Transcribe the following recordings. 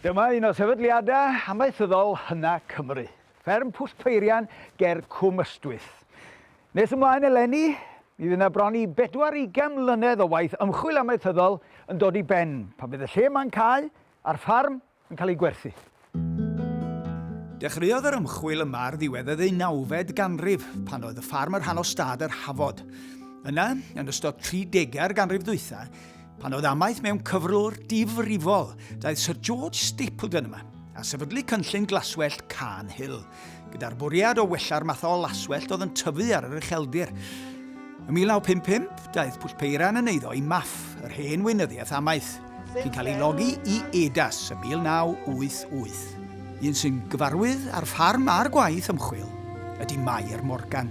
Dyma un o sefydliadau amaethyddol hynna Cymru, fferm Pwll Peirian ger Cwm Ystwyth. Nes ymlaen eleni, mi fydd yna bron i bedwar ugain mlynedd o waith ymchwil amaethyddol yn dod i ben pan fydd y lle ma'n cau a'r ffarm yn cael eu gwerthu. Dechreuodd yr ymchwil yma ar ddiwedd y ddeunawfed ganrif, pan oedd y ffarm y rhan o stad yr Hafod. Yna, yn ystod 30au'r ganrif ddwytha, pan oedd amaeth mewn cyfrwr difrifol, daeth Sir George Stapleton yma, a sefydlu cynllun glaswellt Cairn Hill. gyda'r bwriad o wella'r math o laswellt oedd yn tyfu ar yr ucheldir. Ym 1955, daeth Pwll Peiran yn eiddo i Maff, yr hen weinyddiaeth amaeth, sy'n cael ei logi i EDAS ym 1988. Un sy'n gyfarwydd â'r ffarm a'r gwaith ymchwil ydy Mair Morgan.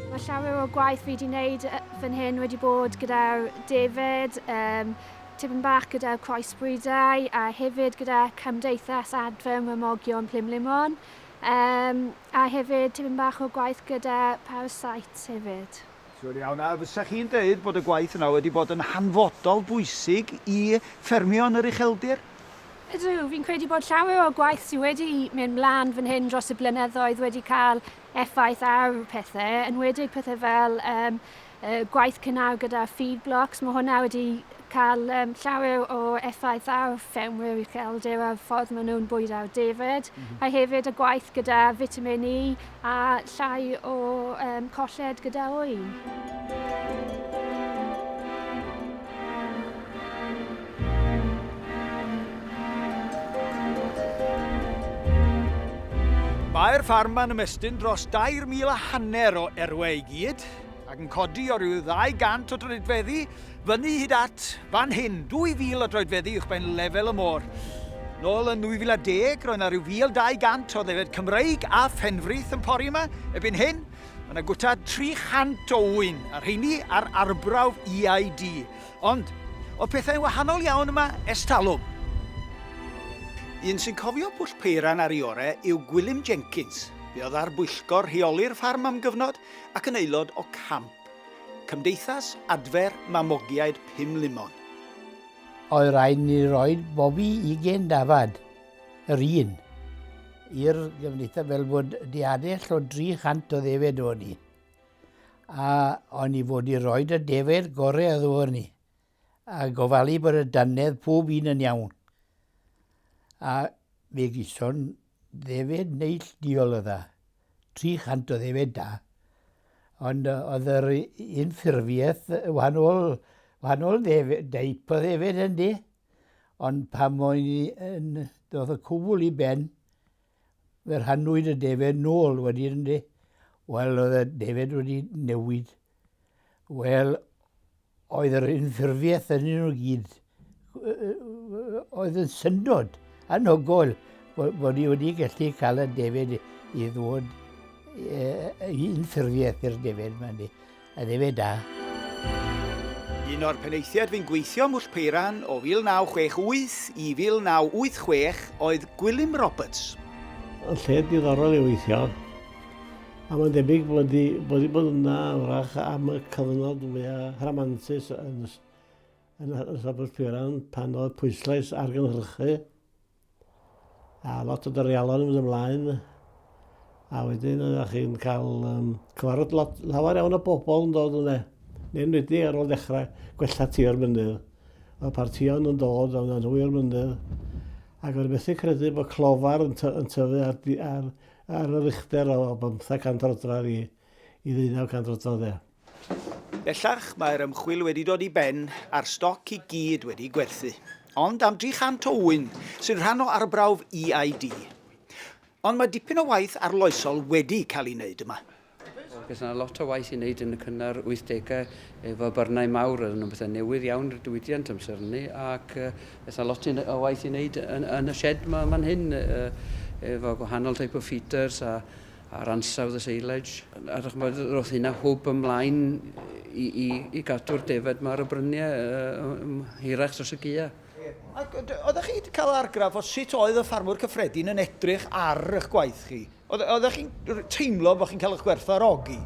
Mae llawer o gwaith fi wedi wneud fan hyn wedi bod gyda David, um, Tipyn bach gyda'r croesbrydau a hefyd gyda Cymdeithas Adfer Mrimogion Plumlumon um, a hefyd tipyn bach o gwaith gyda Parasites hefyd. Siwr iawn, a fysa chi'n dweud bod y gwaith yna wedi bod yn hanfodol bwysig i ffermio yn yr ucheldir? Ydw, fi'n credu bod llawer o'r gwaith sydd wedi mynd mlaen fan hyn dros y blynyddoedd wedi cael effaith ar pethau, enwedig pethau fel um, gwaith cynnal gyda feed blocks, mae hwnna wedi cael um, llawer o effaith ar ffermwyr ucheldir a'r ffordd maen nhw'n bwydo'r defaid, mm -hmm. a hefyd y gwaith gyda vitamin E a llai o um, colled gyda oen. Mae'r ffarm yn ymestyn dros 2,000 a hanner o erwe i gyd, ac yn codi o ryw 200 o droedfeddi fyny hyd at fan hyn, 2,000 o droedfeddi uwchben lefel y môr. Nôl yn 2010, roedd yna rhyw 1,200 o ddefed Cymreig a phenfrith yn pori yma. Ebyn hyn, mae yna gwta 300 o ŵyn, a'r rheini ar arbrawf EID. Ond, oedd pethau'n wahanol iawn yma ers talwm. Un sy'n cofio Pwll Peiran ar ei orau yw Gwilym Jenkins. Fe oedd ar bwyllgor rheoli'r ffarm am gyfnod, ac yn aelod o camp Cymdeithas Adfer Mamogiaid Pumlumon. Oedd rhaid ni roi bobi ugain dafad yr un i'r Gymdeithas fel bod diadell o 300 o ddefed o'n ni. A o'n i fod i roi y defed gorau oedd o'n ni a gofalu bod y dannedd pob un yn iawn. A fe gyson Ddefaid neillduol oedd e. 300 o ddefaid da. Ond yy oedd yr u- un ffurfiaeth yy wahanol wahanol ddef- deip o ddefaid yndi? Ond pan o'n i yn yy dod y cwbl i ben fe rhannwyd y defaid nôl wedyn yndi? Wel oedd y defaid wedi newid. Wel Oedd yr unffurfiaeth yn un o gyd oedd yn syndod anhygoel bod ni wedi gallu cael y defyd i ddod i unffurfiaeth i'r defyd mae'n di. A defyd da. Un o'r penaethiaid fu'n gweithio Mwll Peiran o 1968 i 1986 oedd Gwilym Roberts. Lle diddorol i weithio. A mae'n debyg bod wedi bod wedi bod yna wrach am y cyfnod fwya rhamantus yn y yn y yn Sabwrdd Pwyran pan oedd pwyslais ar gynhyrchu a lot o dorialon yn mynd ymlaen a wedyn oeddech chi'n cael um, cyfarfod lot, lawer iawn o bobl yn dod yna. Neu'n wedi ar ôl dechrau gwella tir mynydd. Oedd partion yn dod o'n nhw i'r mynydd ac oedd methu credu bod clofar yn, ty yn tyfu ar, ar Ar yr uchder o bymtheg cant roddradd i i ddeunaw cant roddradd de. Bellach mae'r ymchwil wedi dod i ben a'r stoc i gyd wedi gwerthu. Ond am 300 o ŵyn sy'n rhan o arbrawf EID. Ond mae dipyn o waith arloesol wedi cael ei wneud yma. Bydd yna lot o waith i wneud yn y cynnar 80au efo byrnau mawr, oedd yn bethau newydd iawn i'r diwydiant amser hynny, ac bydd yna lot o waith i wneud yn, yn y shed yma yma'n hyn, efo gwahanol type o feeders a, a'r ansawdd y seilage. A ddech chymod, roedd hynna hwb ymlaen i, i, i gadw'r defaid yma ar y bryniau uh, hirach dros y gia. Ac oeddech chi wedi cael argraff o sut oedd y ffarmwr cyffredin yn edrych ar eich gwaith chi? Oeddech chi'n teimlo bod chi'n cael eich gwerthfawrogi?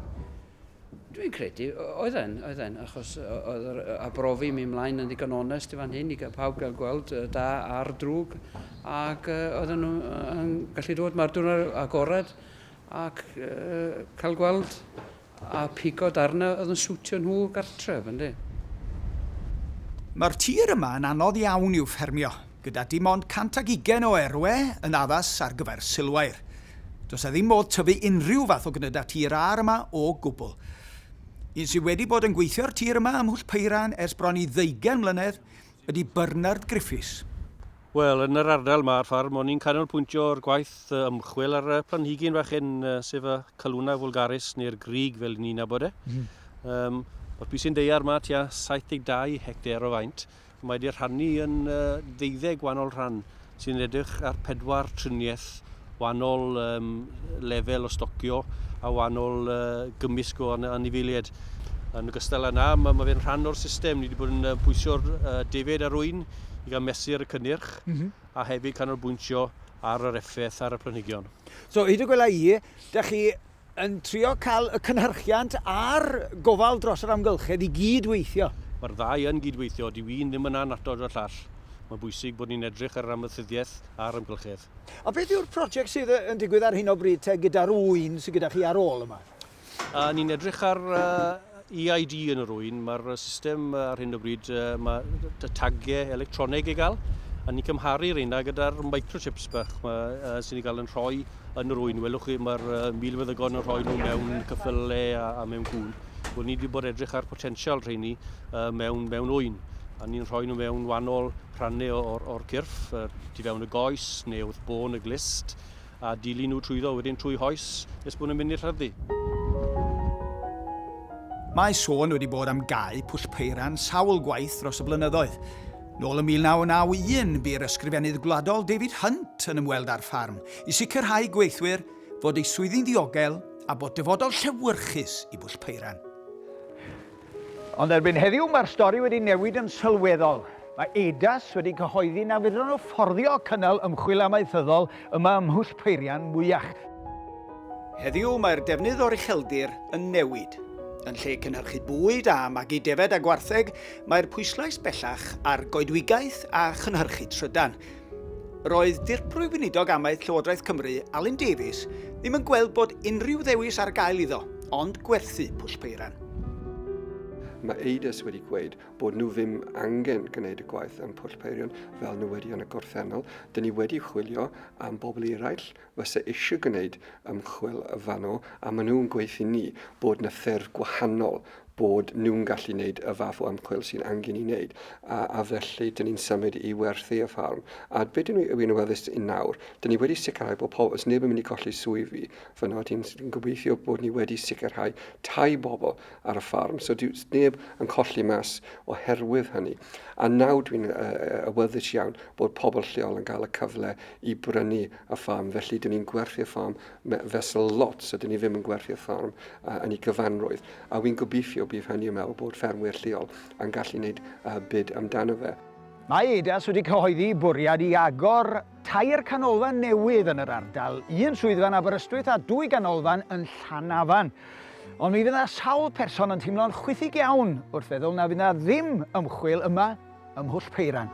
Dwi'n credu, oedden, oedden, achos oedd yr arbrofi mi mlaen yn ddigon onest i fan hyn i gael pawb gael gweld y da a'r drwg ac oedden nhw yn gallu dod mae'r diwrnod agored ac cael gweld A pigo darnau oedd yn siwtio nhw gartref, ynde? Mae'r tir yma yn anodd iawn i'w ffermio, gyda dim ond 120 o erwe yn addas ar gyfer silwair. Does 'na ddim modd tyfu unrhyw fath o gnydau tir âr yma o gwbl. Un sydd wedi bod yn gweithio'r tir yma ym Mhwll Peiran ers bron i ddeugain mlynedd ydy Bernard Griffiths. Wel, yn yr ardal 'ma ar ffarm, o'n i'n canolpwyntio ar gwaith ymchwil ar planhigyn fach hyn, sef y Calluna vulgaris, neu'r grug fel 'yn ni'n nabod e. Yym, ma'r pisyn daear 'ma tua 72 hectare o faint, a mae 'di rhannu yn yy ddeuddeg gwahanol rhan, sy'n edrych ar pedwar triniaeth wahanol um, lefel o stocio a wahanol uh, gymysg o anifeiliaid. Yn ogystal â na, mae, mae fe'n rhan o'r system. Ni wedi bod yn pwysio'r uh, defed ar wy'n i gael mesur y cynnyrch mm -hmm. a hefyd canolbwyntio ar yr effaith ar y planhigion. So, hyd y gwela i, da chi yn trio cael y cynhyrchiant a'r gofal dros yr amgylchedd i gyd weithio. Mae'r ddau yn gyd-weithio, dyw un ddim yn annatod y llall. Mae'n bwysig bod ni'n edrych ar yr amaethyddiaeth a'r amgylchedd. A beth yw'r project sydd yn digwydd ar hyn o bryd te gyda'r ŵyn sydd gyda chi ar ôl yma? Ni'n edrych ar EID yn yr ŵyn. Mae'r system ar hyn o bryd, mae y tagiau electroneg i gael, a ni'n cymharu reina gyda'r microchips bach ma, sy'n ei gael yn rhoi yn yr ŵyn. Welwch chi, mae'r milfeddygon yn rhoi nhw mewn cyffyle a, a mewn gŵn. Wel, ni wedi bod edrych ar potensial rheini uh, mewn, mewn ŵyn a ni'n rhoi nhw mewn wahanol rhannau o'r, or cyrff, uh, tu fewn y goes neu wrth bôn y glist, a dilyn nhw trwyddo wedyn trwy hoes nes bod nhw'n mynd i'r llafdy. Mae sôn wedi bod am gau Pwll Peiran sawl gwaith dros y blynyddoedd. Nôl yn 1991 bu'r Ysgrifennydd Gwladol David Hunt yn ymweld â'r ffarm i sicrhau i gweithwyr fod eu swyddi'n ddiogel a bod dyfodol llewyrchus i Bwll Peiran. Ond erbyn heddiw mae'r stori wedi newid yn sylweddol. Mae EIDAS wedi cyhoeddi na fedrwn nhw fforddio cynnal ymchwil amaethyddol yma ym Mhwll Peirian mwyach. Heddiw mae'r defnydd o'r ucheldir yn newid. Yn lle cynhyrchu bwyd a magu defaid a gwartheg, mae'r pwyslais bellach ar goedwigaeth a chynhyrchu trydan. Roedd Dirprwy Weinidog Amaeth Llywodraeth Cymru, Alun Davies, ddim yn gweld bod unrhyw ddewis ar gael iddo, ond gwerthu Pwll Peiran. Mae Eides wedi gweud bod nhw ddim angen gwneud y gwaith am Pwll Peirion fel newyddion y gorffennol. Dyn ni wedi chwilio am bobl eraill fysa eisiau gwneud ymchwil fanno a maen nhw'n gweud i ni bod yna ffyrdd gwahanol bod nhw'n gallu gwneud y fath o ymchwil sy'n angen i wneud, a, a felly dyn ni'n symud i werthu y ffarm. A be dyn ni yn weddus yn nawr, dyn ni wedi sicrhau bod pobl, os neb yn mynd i golli swyddi, fyno dyn ni'n gobeithio bod ni wedi sicrhau tai bobl ar y ffarm, so dyw neb yn colli mas oherwydd hynny. A nawr dwi'n awyddus iawn bod pobl lleol yn cael y cyfle i brynu y ffarm, felly dyn ni'n gwerthu'r ffarm fesul lot, so dyn ni ddim yn gwerthu'r ffarm uh, yn ei gyfanrwydd. A wy'n gobeithio bydd hynny yn meddwl bod ffermwyr lleol yn gallu gwneud uh, byd amdano fe. Mae Eidas wedi cyhoeddi bwriad i agor Tair canolfan newydd yn yr ardal, un swyddfa yn Aberystwyth a dwy ganolfan yn Llanafan. Ond mi fydd yna sawl person yn teimlo'n chwithig iawn wrth feddwl na fydd yna ddim ymchwil yma ym Mhwll Peiran.